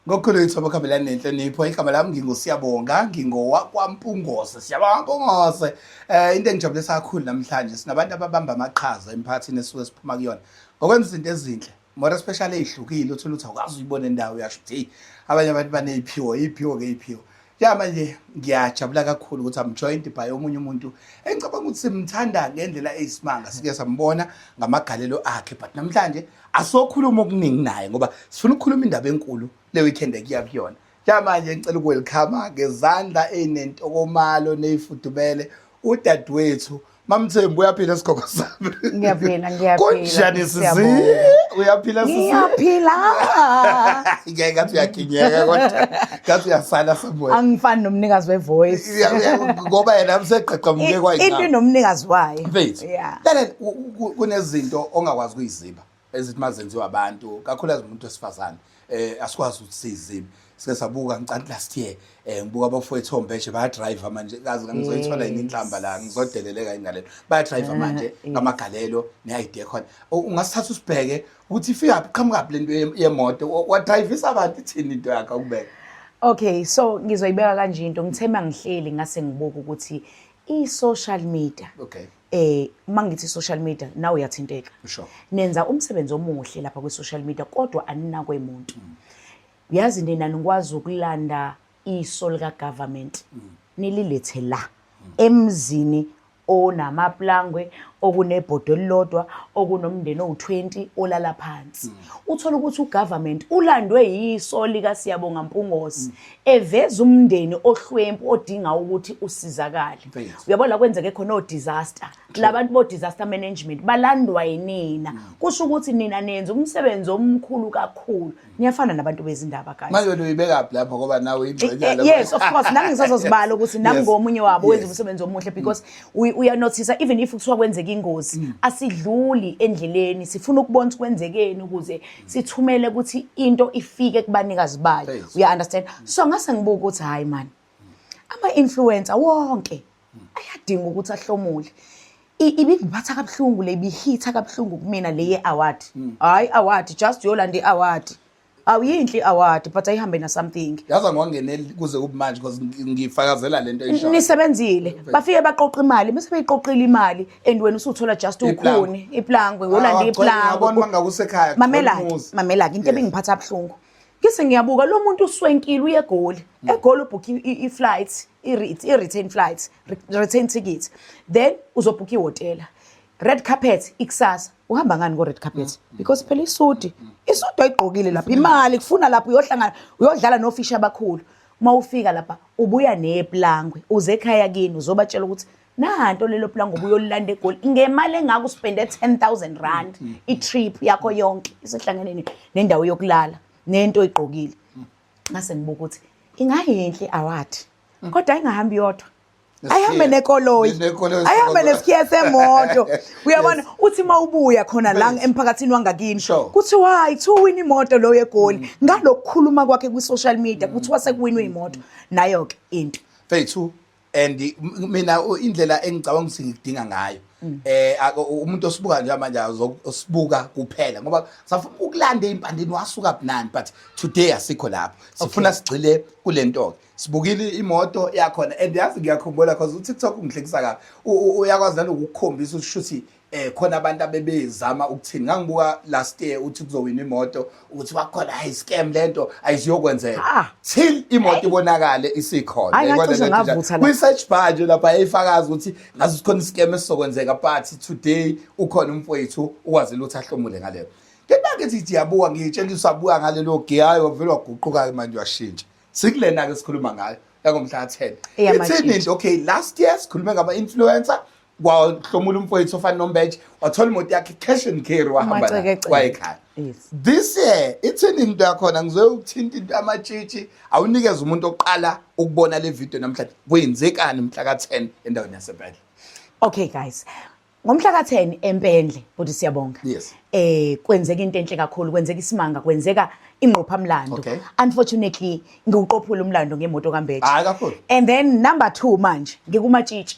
ngokhulu wethu abakhambelani nenhlonipho igama lami ngingusiyabonga ngingowakwampungose siyabonga mpungose um into engijabulisa kakhulu namhlanje sinabantu ababamba amaqhaza emphakathini esuke siphuma kuyona ngokwenza izinto ezinhle more especially ey'hlukile uthole ukuthi awukwazi uyibone ndawo uyasho ukuthi heyi abanye abantu baney'phiwo iy'phiwo-ke iy'phiwo ya manje ngiyajabula kakhulu ukuthi I'm joined by omunye umuntu engicabanga ukuthi simthanda ngendlela eyisimanga sike sambona ngamagalelo akhe but namhlanje asokhuluma okuningi naye ngoba sifuna ukukhuluma indaba enkulu le weekend ekuya kuyona ya manje ngicela ukwelkhama ngezandla ezinentokomalo neyifudumele udadewethu Mamthembu uyaphila isigogo sami. Ngiyaphila ngiyaphila. Kunjani sisi? Uyaphila sisi? Ngiyaphila. Ngeke ngathi uyakinyeka kodwa ngathi uyasala somewhere. Angifani nomnikazi we voice. Ngoba yena useqeqa umke kwayina. Into nomnikazi wayo. Mfethu. Yeah. Kunezinto ongakwazi kuyiziba. ezithi mazenziwa abantu kakhulukazi umuntu wesifazane eh asikwazi ukuthi sizini sike sabuka ngicanti last year eh ngibuka abafowethu ombeshe baya drive manje kazi ngizoyithola yini inhlamba la ngizodeleleka ingalelo baya drive manje ngamagalelo ne idea khona ungasithatha usibheke ukuthi ifika qhamuka lento yemoto wa drive isabantu ithini into yakhe ukubeka Okay so ngizoyibeka kanje into ngithema ngihleli ngase ngibuka ukuthi i-social media okay. eh uma ngithi social media nawe uyathinteka sure. nenza umsebenzi omuhle lapha kwi social media kodwa aninakwe umuntu mm. yazi nina nikwazi ukulanda iso lika government mm. nililethe la mm. emzini onamaplangwe okunebhodo elilodwa okunomndeni owu20 olala phansi mm. uthola ukuthi ugovernment ulandwe yiso lika Siyabonga Mpungose mm. eveza umndeni ohlwempu odinga ukuthi usizakale uyabona la kwenzeke khona o-disaster labantu bo-disaster management balandwa yinina mm. kusho ukuthi nina nenza umsebenzi omkhulu kakhulu niyafana nabantu bezindaba guys manje wena uyibekaphi lapho ngoba nawe uyingxenyana eh, eh, yes of course nami ngisazozibala ukuthi nami ngomunye wabo wenza umsebenzi omuhle because mm. uyanothisa even if kuthiwa kwenzeka ingozi mm. asidluli endleleni sifuna ukubona ukuthi kwenzekeni ukuze sithumele ukuthi into ifike kubanikazi bayo uya understand so ngase ngibuka ukuthi hayi man ama influencer wonke ayadinga ukuthi ahlomule ibingiphatha kabuhlungu le bihitha kabuhlungu kumina le ye award hmm. hayi award just yolanda i award awuyinhle award but ayihambe na something yaza ngongeneli kuze ubumanje because ngifakazela lento isho nisebenzile bafike baqoqa imali bese beyiqoqile imali and wena usuthola just ukhuni iplangwe ngolanda ah, iplangwe mangakusekhaya mamela mamela into ebingiphatha abhlungu ngise ngiyabuka lo muntu uswenkile uyegoli mm. egoli ubhukhe i-flight i-return flight return ticket then uzobhukha ihhotela red carpet ikusasa uhamba ngani ko-red carpet mm. because phela isudi mm. isudi oyigqokile lapho imali kufuna lapho uyohlangana uyodlala nofishi abakhulu uma ufika lapha ubuya neplangwe uze ekhaya kini uzobatshela ukuthi nahanto lelo pula ngoba uyolilanda egoli ngemali engaka uspende 10000 rand mm, mm. itrip yakho yonke isihlangene nendawo yokulala nento igqokile mm. ngase ngibuka ukuthi ingayinhle award kodwa ingahambi yodwa ayihambe nekoloyi ayihambe nesikhiya semoto uyabona uthi uma ubuya khona la emphakathini wangakini kuthiwa hayi kuthiwa uwina imoto loyo egoli mm. ngalokukhuluma kwakhe kwi-social media mm. kuthiwa sekuwinwe imoto nayo-ke into fethu and mina indlela engicabanga ukuthi ngikudinga ngayo mm. eh umuntu osibuka nje manje osibuka kuphela ngoba safuna ukulanda impandeni wasuka bunani but today asikho lapho sifuna sigcile kulento ke sibukile imoto yakhona and yazi ngiyakhumbula cause uTikTok ungihlekisa kabi uyakwazi nalokukhombisa ukuthi eh khona abantu abebezama ukuthini ngangibuka last year uthi kuzowina imoto ukuthi wakhona hayi scam lento ayiziyokwenzeka Ah. till imoto ibonakale isikhona Hayi, Yayibona ngacishe lento njalo. ngavutha la. kwi-search bar nje lapha yayifakaza ukuthi ngaze sikhona iscam esizokwenzeka but today ukhona umfowethu ukwazile ukuthi ahlomule ngaleyo ngenake ngithi ndiyabuka ngiyitshela ukuthi usabuka ngalelo gear hayi wavele waguquka-ke manje washintsha sikulena-ke sikhuluma ngayo yangomhla ka-ten Eyamashintshi. ithini nje okay last year sikhulume ngama-influencer kwahlomula umfowethu ofana nombeje wathola imoto yakhe cash and carry wahamba nayo Umacekeceke. wayekhaya Yes. this year ithini into yakhona ngizoye ukuthinta into yamatshitshi awunikeze umuntu oqala ukubona le video namhlanje kwenzekani mhla ka-10 endaweni yasebhedle Okay guys. Ngomhla ka-10 eMpendle, bhuti siyabonga. Yes. Eh kwenzeka into enhle kakhulu, kwenzeka isimanga, kwenzeka ingqophamlando. Okay. Unfortunately, ngiwuqophula umlando ngemoto kaMbethi. Hayi kakhulu. And then number 2 manje ngikumatshitshi.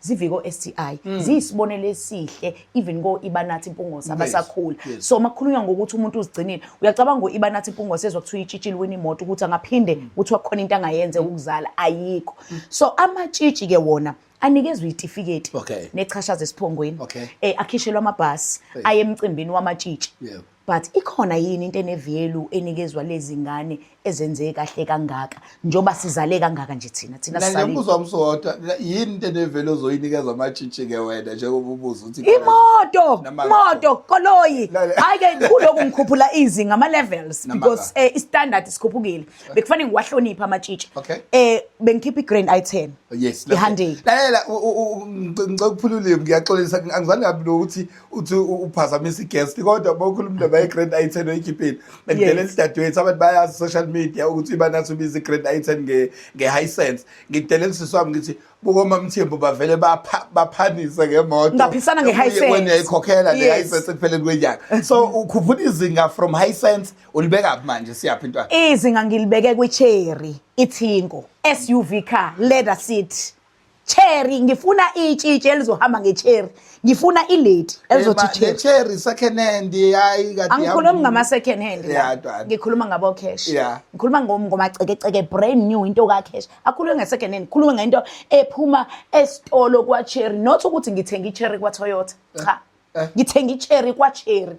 ziviko STI mm. ziyisibonelo esihle even ko ibanathi impungosa abasakhula yes. yes. so makhulunywa ngokuthi umuntu uzigcinile uyacabanga ngo ibanathi impungosa ezwa kuthiwa itshitshile wena imoto ukuthi angaphinde mm. kuthiwa khona into angayenze mm. ukuzala ayikho mm. so amatshitshi ke wona anikezwe itifiketi okay. nechashaza esiphongweni okay. eh, akhishelwa amabhasi hey. aye emcimbini wamatshitshi yeah. But ikhona yini into enevyelu enikezwa lezi ngane ezenze kahle kangaka njoba sizale kangaka nje thina thina sizale. Ngiyambuza umsodwa yini into enevelu ozoyinikeza amatshitshi ke wena njengoba ubuza uthi imoto imoto koloyi hayi ke kuloku ngikhuphula izinga ama levels because eh istandard sikhuphukile bekufanele ngiwahloniphe amatshitshi eh bengikhipha igrand i10 yes ihandeki lalela ngicela ukuphulula ngiyaxolisa angizange kabi ukuthi uthi uphazamisa i-guest kodwa bokhulu umntu bayi-grand i ten oyikhiphile bendlela elidadewethu abantu bayazi social media ukuthi banathi ubiza i-grand i ten nge-high sense ngidela elisisi wami ngithi bukomamthembu bavele baphanise ngemoto ngaphisana nge-high sense wena uyayikhokhela le-high sense ekupheleni kwenyanga so ukhuphula izinga from high sense ulibeka phi manje siyaphi intwana izinga ngilibeke kwi-cherry ithingo suv car leather seat cherry ngifuna itshitshi elizohamba ngecherry ngifuna ilady elizothi cherry cherry second hand hayi kade angikhulumi ngama second hand ngikhuluma ngabo cash ngikhuluma ngomacekeceke brand new into ka cash akhulume nge second hand khuluma ngento ephuma esitolo kwa cherry not ukuthi ngithenga icherry kwa toyota cha eh, eh. ngithenga icherry kwa cherry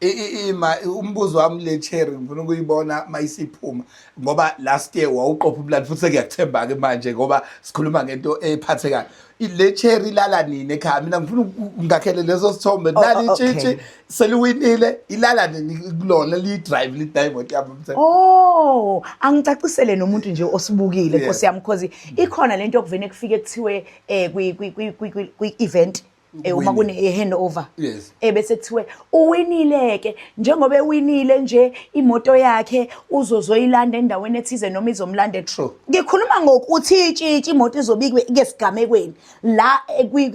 ima umbuzo wami le cherry ngifuna ukuyibona mayisiphuma ngoba last year wawuqopha ubulali futhi sekuyakuthemba ke manje ngoba sikhuluma ngento ephathekayo le cherry ilala nini ekhaya mina ngifuna ngakhele leso sithombe oh, nali oh, itshitshi seliwinile ilala nini kulona li drive li drive imoto yami mthe oh angicacisele nomuntu nje osibukile nkosi yami because ikhona lento okuvene kufike kuthiwe eh kwi kwi kwi event Eh, uma kune eh, handover yes. ebese eh, kuthiwe uwinile ke njengoba ewinile nje imoto yakhe uzozoyilanda endaweni ethize noma izomlanda true ngikhuluma ngokuthi itshitshi imoto izobikwe ke sigamekweni la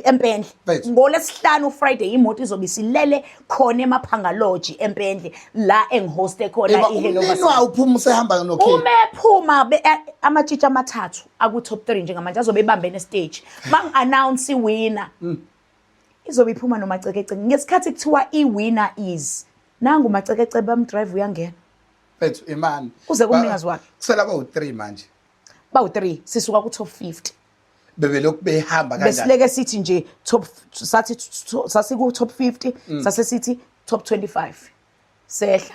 empendle ngolesihlanu friday imoto izobe silele khona emaphangaloji empendle la engihoste khona Eba iHello umnini wayo uphuma usehamba noKing. uma ephuma be- a- amatshitshi amathathu aku-top three njengamanje azobe ebambene esiteji uma ngi-announce iwina Mm. izobe iphuma nomacekeceke ngesikhathi kuthiwa iwina is nangu umacekeceke bamdrive uyangena Mfethu imani. Kuze kumnikazi wakhe. Kusela bawu-3 manje. bawu-three sisuka ku-top fifty bebelokhu behamba kanjani besileke sithi nje top sathi sasiku top 50 mm. sase sithi top 25 sehla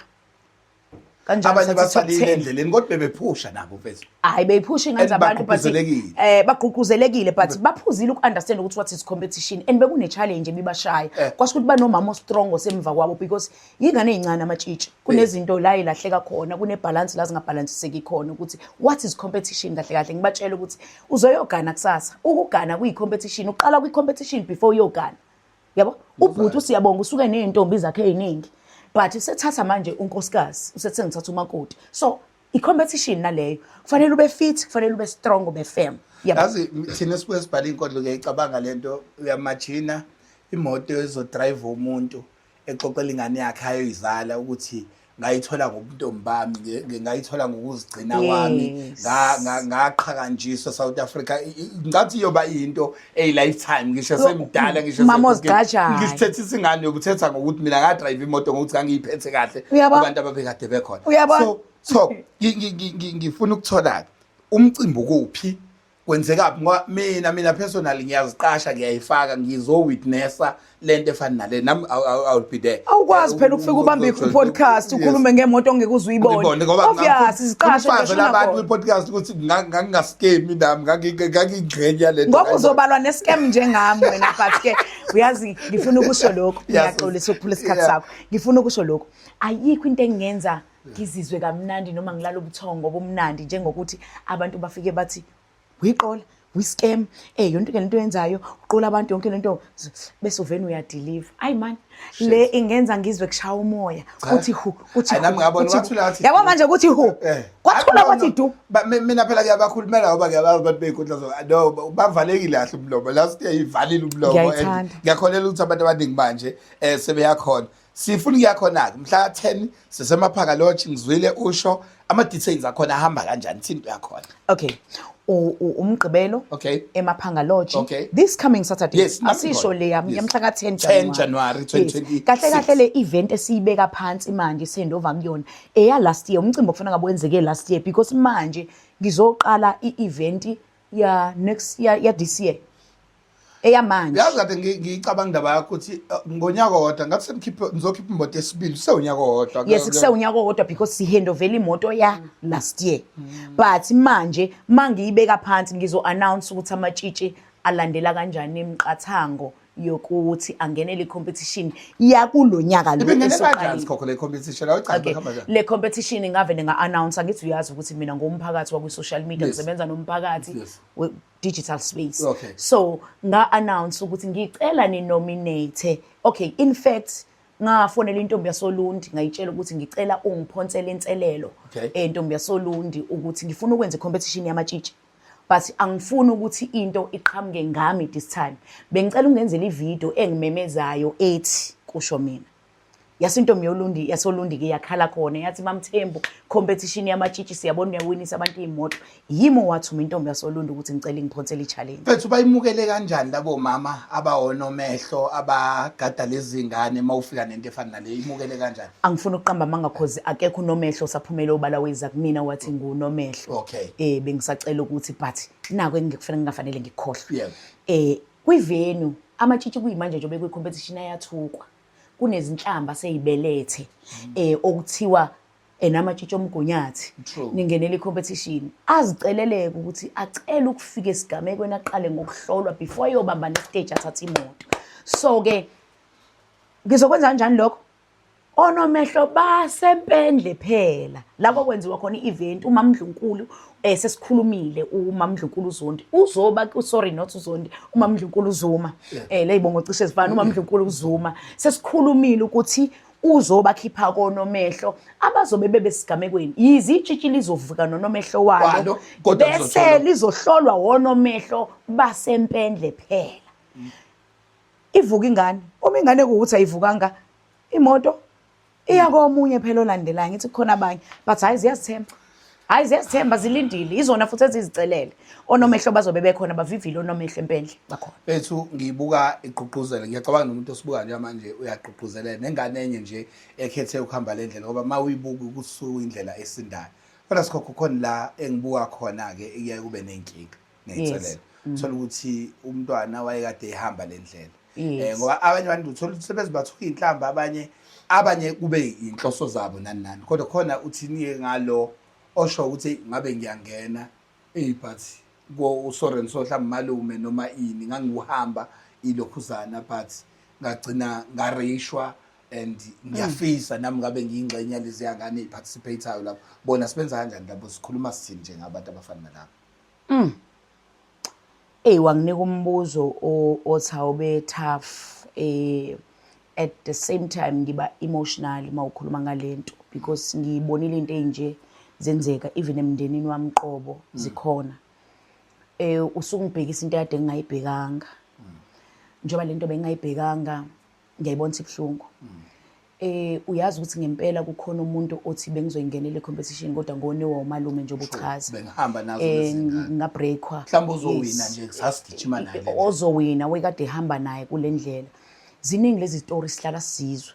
kanjalo abanye basalile endleleni kodwa bebephusha nabo mfethu hayi beyiphusha ingathi abantu but eh bagqugquzelekile but baphuzile ukunderstand ukuthi what is competition and bekune challenge ebibashaya eh. kwasho ukuthi banomama ostrong osemva kwabo because Yingane ezincane amatshitshi kunezinto la ilahleka khona kunebhalansi la zingabhalansiseki khona ukuthi what is competition kahle kahle ngibatshela ukuthi uzoyogana kusasa ukugana kuyi-competition uqala kwi-competition before uyogana yabo ubhuti usiyabonga usuke ney'ntombi zakhe ey'ningi but usethatha manje unkosikazi usethe ngithatha umakoti so i-competition naleyo kufanele ube fit kufanele ube strong ube firm yazi thina sibuye sibhale iy'nkondlo kuyayicabanga le nto uyamajina imoto ezodrayiva umuntu exoxela ingane yakhe ayoyizala ukuthi ngayithola ngobuntombi bami ngayithola ngokuzigcina kwami ngaqhakanjiswa South Africa ngathi iyoba into ey lifetime ngisho semdala ngisho ngisithethe isingane yokuthetha ngokuthi mina nga drive imoto ngokuthi ngangiyiphethe kahle abantu ababekade bekhona so so ngifuna ukuthola umcimbi ukuphi kwenzekaphi ngoba mina mina personally ngiyaziqasha ngiyayifaka ngizowitnessa le nto efana nale nami i'll be there awukwazi phela ukufika ubambe i-podcast ukhulume ngemoto ongeke uze uyibone obvious iziqashe ngisho labantu kwi-podcast ukuthi ngangingaskemi nami ngangingxenye yale nto ngoba uzobalwa ne-scam njengami wena but-ke uyazi ngifuna ukusho lokhu ngiyaxolisa ukuphula isikhathi sakho ngifuna ukusho lokhu ayikho into engingenza ngizizwe kamnandi noma ngilala ubuthongo ngoba umnandi njengokuthi abantu bafike bathi wiqola wiscam eh yonke into lento yenzayo uqola abantu yonke lento bese uvena uyadeliver ay man le ingenza ngizwe kushaya umoya kuthi hu kuthi nami ngabona wathula athi yabo manje kuthi hu eh. kwathula kwathi du mina phela ngiyabakhulumela ngoba ngiyabazi abantu beyinkundla zo no bavalekile kahle umlomo last year ivalile umlomo ngiyakholela ukuthi abantu abaningi manje eh sebeyakhona sifuna ukuya khona-ke mhla ka-10 sisemaphaka lodge ngizwile usho ama-details akhona ahamba kanjani thini into yakhona okay umgqibelo okay emaphanga lodge okay. this coming saturday yes, asisho le yami yamhla ka 10 January 10 January 2020 yes. kahle kahle le event esiyibeka phansi manje sendova kuyona eya last year umcimbi okufana ngabe wenzeke last year because manje ngizoqala i event ya next ya, ya this year eyamanje yazi kade ngi- ngiyicabanga indaba yakho ukuthi eh, ngonyaka owodwa ngathi sengikhiphe ngizokhipha imoto esibili kusewunyaka owodwa yes kusewunyaka owodwa because sihendovela imoto ya last year but manje mangiyibeka phansi ngizo-announce ukuthi amatshitshi alandela kanjani imiqathango yokuthi angenele i-competition yakulo nyaka lo Ibingene kanjani esuqalile. sikhokho le competition? Awucaci Okay. bahamba kanjani? le competition ingavele nga-announce angithi uyazi ukuthi mina ngumphakathi wakwi-social media Yes. ngisebenza nomphakathi Yes. we-digital space Okay. so nga-announce ukuthi ngicela ninominate okay in fact ngafonela intombi yasolundi ngayitshela ukuthi ngicela ungiphonsele inselelo Okay. eh, ntombi yasolundi ukuthi ngifuna ukwenza i-competition yamatshitshi but angifuni ukuthi into iqhamuke ngami this time bengicela ungenzela ivideo engimemezayo ethi kusho mina yase intombi yolundi yasolundi ke yakhala khona yathi mamthembu competition yamatshitshi siyabona uyawinisa abantu iy'moto yimi owathuma intombi yasolundi ukuthi ngicela ingiphonsele i-challenge mfethu bayimukele kanjani labo mama abawonomehlo abagada lezi ngane uma ufika nento efana nale imukele kanjani angifuni ukuqamba amanga cause akekho unomehlo saphumele obala weza kumina wathi ngunomehlo okay eh bengisacela ukuthi but nako engikufanele ngingafanele ngikhohlwe yeah. eh kwivenu amatshitshi kuyimanje nje bekwi competition ayathukwa kunezinhlamba seyibelethe mm. eh okuthiwa enamatshitshi omgunyathi ningenele i-competition aziceleleke ukuthi acele ukufika esigamekweni aqale ngokuhlolwa before eyobamba nestage athathe imoto so-ke ngizokwenza kanjani lokho onomehlo basempendle phela lapho kwenziwa khona i-event umamndlunkulu eh sesikhulumile umamndlunkulu uzondi uzoba sorry not uzondi umamndlunkulu uzuma eh leyibongo cishe zifana umamndlunkulu uzuma sesikhulumile ukuthi uzobakhipha konomehlo abazobe bebesigamekweni yize itshitshi lizovuka nonomehlo walo Walo, kodwa bese lizohlolwa. lizohlolwa wonomehlo basempendle phela ivuka ingane uma ingane kuwuthi ayivukanga imoto iya komunye phela olandelayo ngithi kukhona abanye but hayi ziyazithemba hayi ziyazithemba zilindile izona futhi ezizicelele onomehlo bazobe bekhona bavivile onomehlo empendle bakhona bethu ngibuka igqugquzela ngiyacabanga nomuntu osibuka nje manje uyagqugquzelela nengane enye nje ekhethe ukuhamba le ndlela ngoba uma uyibuka ukusuka indlela esindayo kodwa sikhokho khona la engibuka khona-ke iyaye kube nenkinga ngeyinselelo thola ukuthi umntwana wayekade ehamba le ndlela um ngoba abanye abantu uthola ukuthi sebezibathuka iy'nhlamba abanye abanye kube yinhloso zabo nani nani kodwa khona uthini-ke ngalo osho ukuthi ngabe ngiyangena eyi but usoren so mhlawumbe malume noma ini ngangiwuhamba ilokhuzana but ngagcina ngareyishwa and ngiyafisa mm. nami ngabe ngiyingxenye yalezi yangane eziparticipate-ayo lapho bona sibenza kanjani labo sikhuluma sithini njengabantu abafana nalabo Mm. Ey wanginika umbuzo othi awube tough eh at the same time ngiba emotional mawukhuluma ngalento because ngiyibonile into enje zenzeka even emndenini wami qobo mm. zikhona eh usukungibhekisa into yade ngingayibhekanga mm. njengoba lento bengayibhekanga ngiyayibona ukuthi ibuhlungu eh uyazi ukuthi ngempela kukhona umuntu othi bengizoyingenela i-competition kodwa ngonewa umalume nje obuchaza bengihamba nazo eh, nezingane ngabreakwa mhlawumbe ozowina nje sasigijima naye ozowina wekade ehamba naye kule ndlela ziningi lezi story sihlala sizwe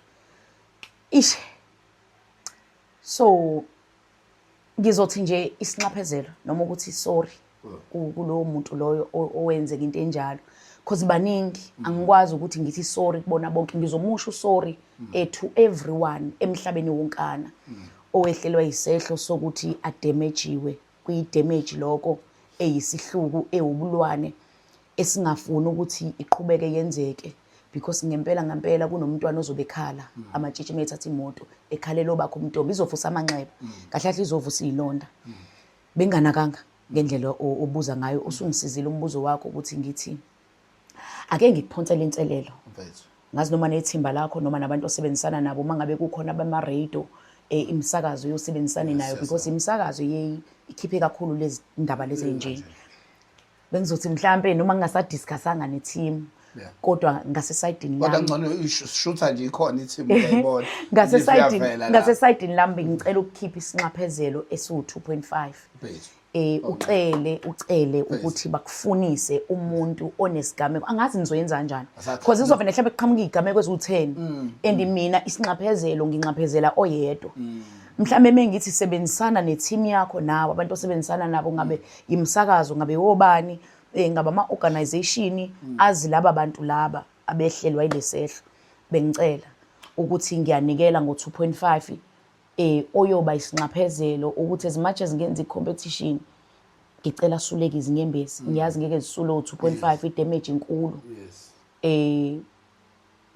ishe so ngizothi nje isinxaphezelo noma ukuthi sorry mm. kulowo muntu loyo owenzeka into enjalo because baningi mm. angikwazi ukuthi ngithi sorry kubona bonke ngizomusho sorry mm. eh, to everyone emhlabeni wonkana owehlelwa isehlo sokuthi adamajiwe kwi damage lokho eyisihluku ewubulwane esingafuni ukuthi iqhubeke yenzeke because ngempela ngempela kunomntwana ozobe ekhala mm. amatshitshi uma ethatha imoto ekhalela obakho umntombi izovusa amanxeba mm. kahle kahle izovusa iy'londa mm. benganakanga ngendlela obuza ngayo usungisizile umbuzo wakho ukuthi ngithi ake ngikuphonsele inselelo ngazi noma nethimba lakho noma nabantu osebenzisana nabo uma ngabe kukhona abama-radio e, imisakazo yosebenzisane nayo because imisakazo ikhiphe kakhulu lezi ndaba lezi nje bengizothi mhlampe noma ngingasadiscussanga ne-team Yeah. kodwa ngasesayidini kodwa lami ngcono ishutha nje ikhona ithimu uyayibona ngasesayidini Iyavela la. ngasesayidini lami bengicela ukukhipha isinxaphezelo esiwu-2.5 Base. eh ucele ucele ukuthi bakufunise umuntu onesigameko angazi nizoyenza kanjani Asathi- because kuzovele mhlawumbe kuqhamuka izigameko eziwu-10 Mm, and mina isinxaphezelo nginxaphezela oyedwa mm. mhlawumbe mengithi sebenzisana ne-team yakho nawe abantu osebenzisana nabo ngabe imisakazo ngabe wobani um eh, ngaba ama-organization hmm. azi laba bantu laba abehlelwa ilesehlo bengicela ukuthi ngiyanikela ngo-two point five um oyoba isinxaphezelo ukuthi as much as ngenza i-competition ngicela asuleke izinyembezi hmm. ngiyazi ngeke zisule u-two point five idamage inkulu um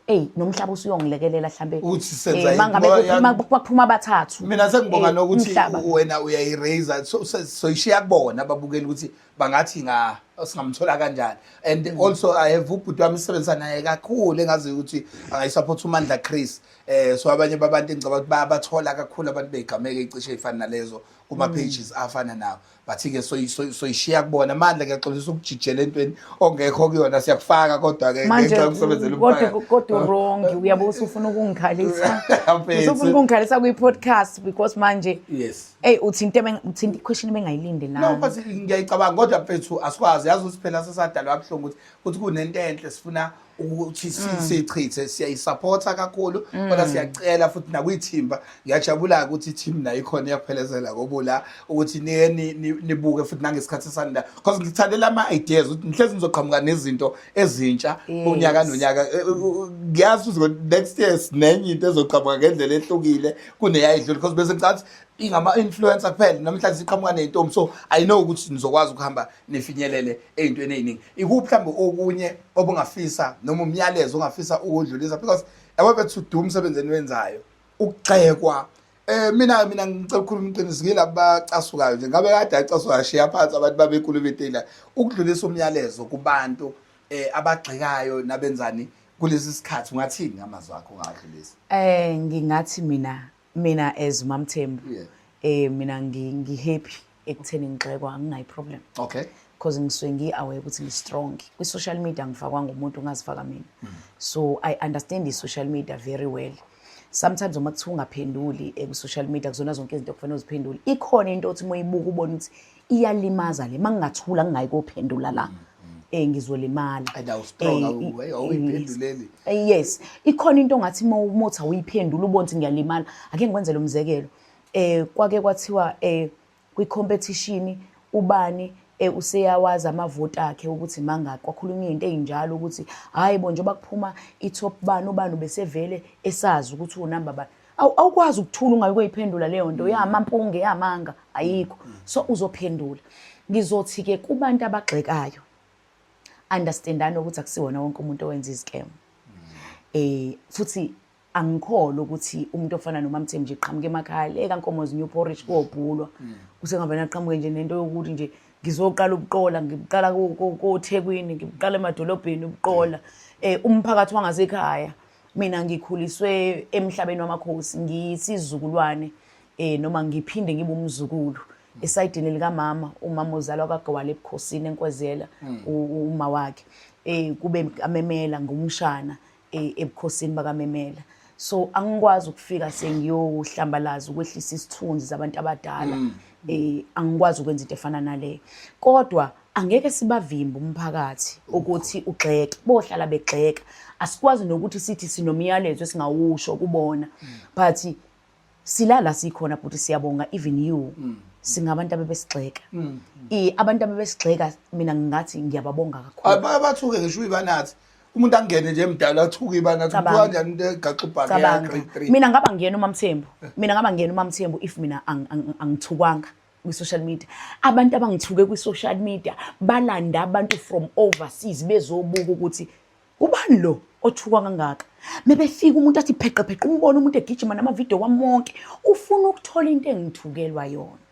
eyi nomhlaba usuyongilekelela hlambe uthi senza eh, mangabe kwaphuma abathathu mina sengibonga eh, nokuthi wena uyayiraise so soyishiya kubona babukela ukuthi bangathi nga singamthola kanjani and mm. also i have ubhuti wami isebenza naye kakhulu engazi ukuthi angayisupport umandla Chris eh so abanye babantu engicabanga ukuthi bayabathola kakhulu abantu begameke icishe ifana nalezo kuma mm. pages afana nawo bathi-ke soyishiya kubona mandla ngiyaxolisa ukujijela entweni ongekho kuyona siyakufaka kodwa-ke ngenxa yokusebenzela kodwa wrong uyabe usufuna ukungikhalisa usufuna ukungikhalisa kwi-podcast because manje yes eyi uthinte uthinte ikhweshini bengayilinde lano but ngiyayicabanga kodwa mfethu asikwazi yazi ukuthi phela sesadalwa abuhlungu ukuthi ukuthi kunento enhle sifuna ukuthi mm. sichithe siyayisupporta kakhulu mm. kodwa siyacela futhi nakwithimba ngiyajabula ukuthi team nayo ikhona iyaphelezela kobula ukuthi niye nibuke futhi nangesikhathi sanida because ngithandela ama ideas ukuthi ngihlezi ngizoqhamuka nezinto ezintsha unyaka nonyaka eh, eh, ngiyazi ukuthi next year sinenye into ezoqhamuka ngendlela ehlukile kuneyayidlula because bese ngicathi ingama influencer kuphela namhlanje siqhamuka nezintombi so i know ukuthi nizokwazi ukuhamba nifinyelele ezintweni eziningi ikuphi mhlawumbe okunye obungafisa noma umyalezo ongafisa ukudlulisa because yabo bethu do umsebenzi eniwenzayo ukugxekwa Eh mina mina ngicela ukukhuluma iqiniso ngilabo bacasukayo nje ngabe kade acasukayo shiya phansi abantu babekhuluma itela ukudlulisa umyalezo kubantu eh abagxekayo nabenzani kulesi sikhathi ungathini ngamazwi akho ungadlulisa Eh ngingathi mina mina as umamthembu yeah. eh mina ngihappy ekutheni ngigxekwa anginayi problem okay because ngisuke ngi-aware ukuthi ngi-strong kwi-social media ngifakwanga umuntu ungazifaka mina mm. so i understand i-social media very well sometimes uma kuthiwa ungaphenduli eh, ku-social media kuzona zonke izinto okufanele uziphendule ikhona into othi uma uyibuka ubone ukuthi iyalimaza le mangingathula ngingayi kophendula la eh ngizolimala and awu strong awu eh, awuyiphenduleli eh, eh, yes ikhona into ngathi uma umotha uyiphendula ubonthi ngiyalimala ake ngikwenze lo mzekelo eh kwake kwathiwa eh kwi competition ubani eh useyawazi amavoti akhe ukuthi mangaki kwakhulunywa into ezinjalo ukuthi hayi bo njengoba kuphuma i top bani ubani ubesevele esazi ukuthi unamba bani Aw- awukwazi ukuthula ungayi koyiphendula leyo nto yamampunge yamanga ayikho so uzophendula ngizothi-ke kubantu abagxekayo understandani ukuthi akusiwona wonke umuntu owenza izikemu eh futhi angikholwa ukuthi umuntu ofana nomamthembu nje qhamuke emakhaya le kankomo zinew porridge kobhulwa kusengavele aqhamuke nje nento yokuthi nje ngizoqala ubuqola ngibuqala ko- ko- kothekwini ngibuqala emadolobheni ubuqola um umphakathi wangasekhaya mina ngikhuliswe emhlabeni wamakhosi ngiyisizukulwane eh noma ngiphinde ngibe umzukulu esayidini likamama umama uzalwa kagwala ebukhosini enkwezela hmm. uma wakhe eh kube amemela ngumshana eh, ebukhosini bakamemela so angikwazi ukufika sengiyohlambalaza ukwehlisa isithunzi zabantu abadala hmm. eh angikwazi ukwenza into efana naleyo kodwa angeke sibavimbe umphakathi ukuthi ugxeke bohlala begxeka asikwazi nokuthi sithi sinomyalezo esingawusho kubona but silala sikhona bhuti siyabonga even you singabantu abebesigxeka mm. abantu abebesigxeka mina ngingathi ngiyababonga kakhulu abathuke ngisho uyibanathi umuntu angene nje emdala athuke ibanathi kuthiwa kanjani into egaxa ubhaka ya grade 3 mina ngaba ngiyena umamthembu eh. mina ngaba ngiyena umamthembu if mina angithukwanga kwi-social media abantu abangithuke kwi-social media balanda abantu from overseas bezobuka ukuthi ubani lo othukwa kangaka mebefika umuntu athi pheqepheqe umbona umuntu egijima namavidiyo wami wonke ufuna ukuthola into engithukelwa yona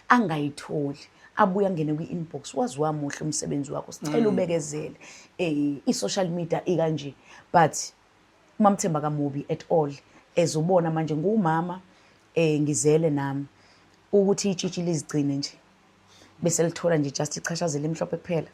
angayitholi abuye angene kwi-inbox wazi wamuhle umsebenzi wakho sicela mm. ubekezele um i-social media ikanje but Umamthemba kamubi at all as ubona manje ngiwumama eh ngizele nami ukuthi itshitshi lizigcine nje bese lithola nje just ichashazi elimhlophe kuphela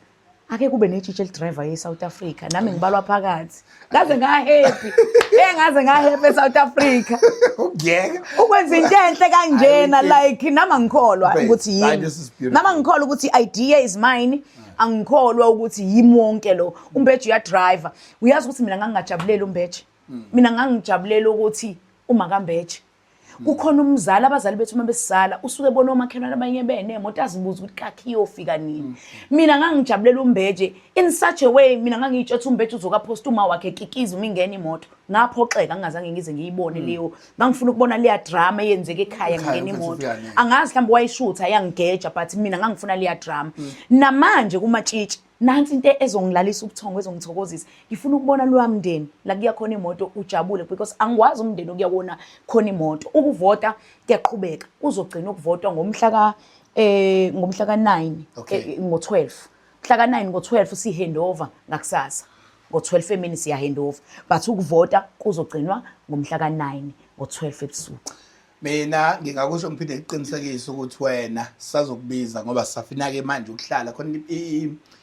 ake kube netshitshi elidriver ye-south africa nami ngibalwa phakathi ngaze ngahappy e ngaze ngahappy e-south africa ukuyeka ukwenza into enhle kanjena like nama ngikholwa Babe, ukuthi hayi, yimi this is beautiful. nama ngikholwa ukuthi idea is mine angikholwa ukuthi yimi wonke lo umbeji uyadriver uyazi ukuthi mina ngangingajabuleli umbeje hmm. mina ngangijabulela ukuthi uma kambeje hmm. kukhona umzali abazali bethu uma besizala usuke bona omakhelwane abanye benemoto azibuza ukuthi kakhe iyofika nini hmm. mina ngangijabulela umbeje in such a way mina ngangiyitsho ukuthi umbeje uzokaphosta uma wakhe kikiza uma ingena imoto ngaphoxeka ngingazange ngize ngiyibone leyo ngangifuna ukubona leya drama eyenzeka ekhaya ngingena imoto angazi mhlawumbe wayishutha yangigeja but mina ngangifuna leya drama namanje kumatshitshi nansi into ezongilalisa ubuthongo ezongithokozisa ngifuna ukubona loya mndeni la kuya khona imoto ujabule because angikwazi umndeni okuya wona khona imoto ukuvota kuyaqhubeka kuzogcina ukuvotwa ngomhla ka eh ngomhla ka 9 okay. eh, ngo 12 mhla ka 9 ngo 12 si handover ngakusasa ngo 12 emini siya handover but ukuvota kuzogcinwa ngomhla ka 9 ngo 12 ebusuku Mina ngingakusho ngiphinde ngiqinisekise ukuthi wena sazokubiza ngoba sisafina-ke manje ukuhlala khona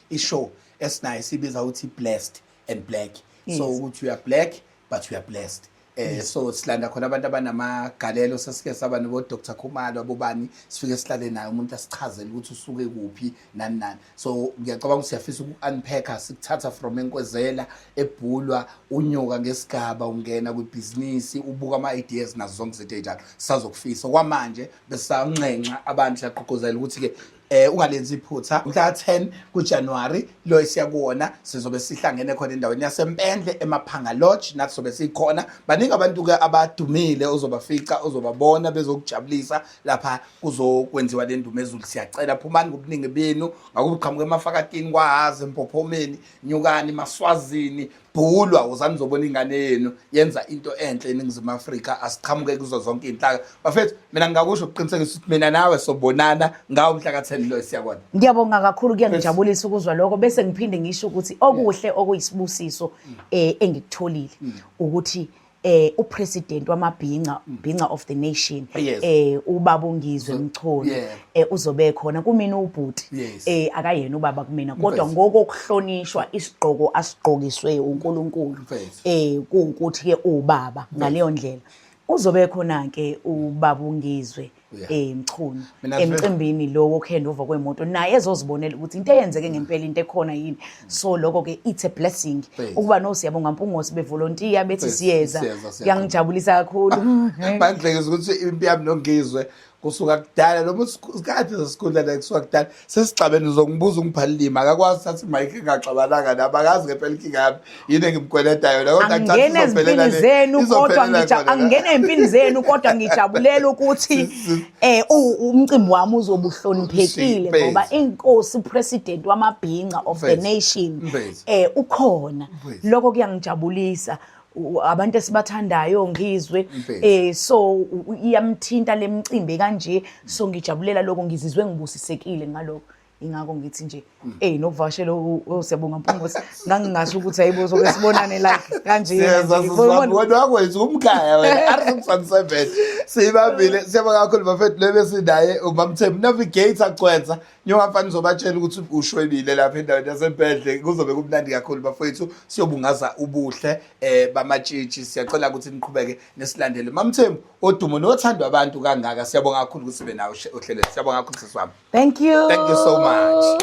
i-show esinayo sibiza ukuthi blessed and black so ukuthi uya black but uya blessed eh so silanda khona abantu abanamagalelo sesike saba nobo Dr Khumalo abobani sifike sihlale naye umuntu asichazele ukuthi usuke kuphi nani nani so ngiyacabanga ukuthi siyafisa uku-unpacka sikuthatha from enkwezela ebhulwa unyuka ngesigaba ungena kwibhizinisi ubuka ama-ideas nazo zonke izinto ey'njalo sisazokufisa okwamanje besanxenxa abantu siyaqhuquzela ukuthi-ke eh ungalenzi iphutha mhla 10 kuJanuary lo esiyakuwona sizobe sihlangene khona endaweni yaseMpendle eMaphanga Lodge nathi sobe sikhona baningi abantu ke abadumile ozobafica ozobabona bezokujabulisa lapha kuzokwenziwa le ndumezulu siyacela phumani ngobuningi benu ngakuba uqhamuka emafakatini kwahazi empophomeni nyukani maswazini bhulwa wozani zobona ingane yenu yenza into enhle eningizimu afrika asiqhamuke kuzo zonke iy'nhlaka bafethu mina ngingakusho ukuqinisekisa ukuthi mina nawe sobonana ngawo mhla ka-ten loyo siyakona ngiyabonga kakhulu kuyangijabulisa ukuzwa lokho bese ngiphinde ngisho ukuthi okuhle okuyisibusiso um engikutholile mm. ukuthi mm. eh upresident wamabhinca bhinca of the nation Yes. eh ubaba uNgizwe Mchunu yeah. eh uzobe khona kumina ubhuti Yes. eh akayena ubaba kumina kodwa Mfethu. ngokokuhlonishwa isigqoko asigqokiswe uNkulunkulu Mfethu. eh kuwukuthi ke ubaba ngaleyo ndlela uzobe khona ke ubaba uNgizwe eh Mchunu emcimbini lo wokuhandover kwemoto naye ezozibonela ukuthi into eyenzeke ngempela into ekhona yini so lokho ke it's a blessing ukuba no siyabonga mpungosi bevolontiya bethi siyeza kuyangijabulisa kakhulu bandlekeza ukuthi impiyami nongizwe kusuka kudala noma isikhathi sesikhundla la kusuka kudala sesigcabeni uzongibuza ungibhalilima akakwazi uthatha imayikhi engaxabananga nami akazi ngempela inkinga yami yini engimkweleta yona kodwa angena ezimpini zenu kodwa angena ezimpini zenu kodwa ngijabulela ukuthi eh umcimbi wami uzobuhloniphekile ngoba inkosi president wamabhinca of the nation eh ukhona lokho kuyangijabulisa abantu esibathandayo ngizwe eh so iyamthinta lemcimbi kanje so ngijabulela lokho ngizizwe ngibusisekile ngalokho ingakho ngithi nje hey nokuvashela usiyabonga Mpungose ngangingasho ukuthi hayibo soke sibonane la kanje siyeza sizabona wena wakwenza umkhaya wena arsimsansebenze sibabile siyabonga kakhulu bafethu lebe sinaye ubamthembu navigator cwenza njengoba mfana uzobatshela ukuthi ushwebile lapha endaweni yasebhedle kuzobe kumnandi kakhulu bafowethu siyobungaza ubuhle um eh, bamatshitshi siyacela ukuthi niqhubeke nesilandele mamthembu odumo nothandwa abantu kangaka siyabonga kakhulu ukuthi sibe nawo ohlelweni siyabonga kakhulu sisi wami thank you thank you so much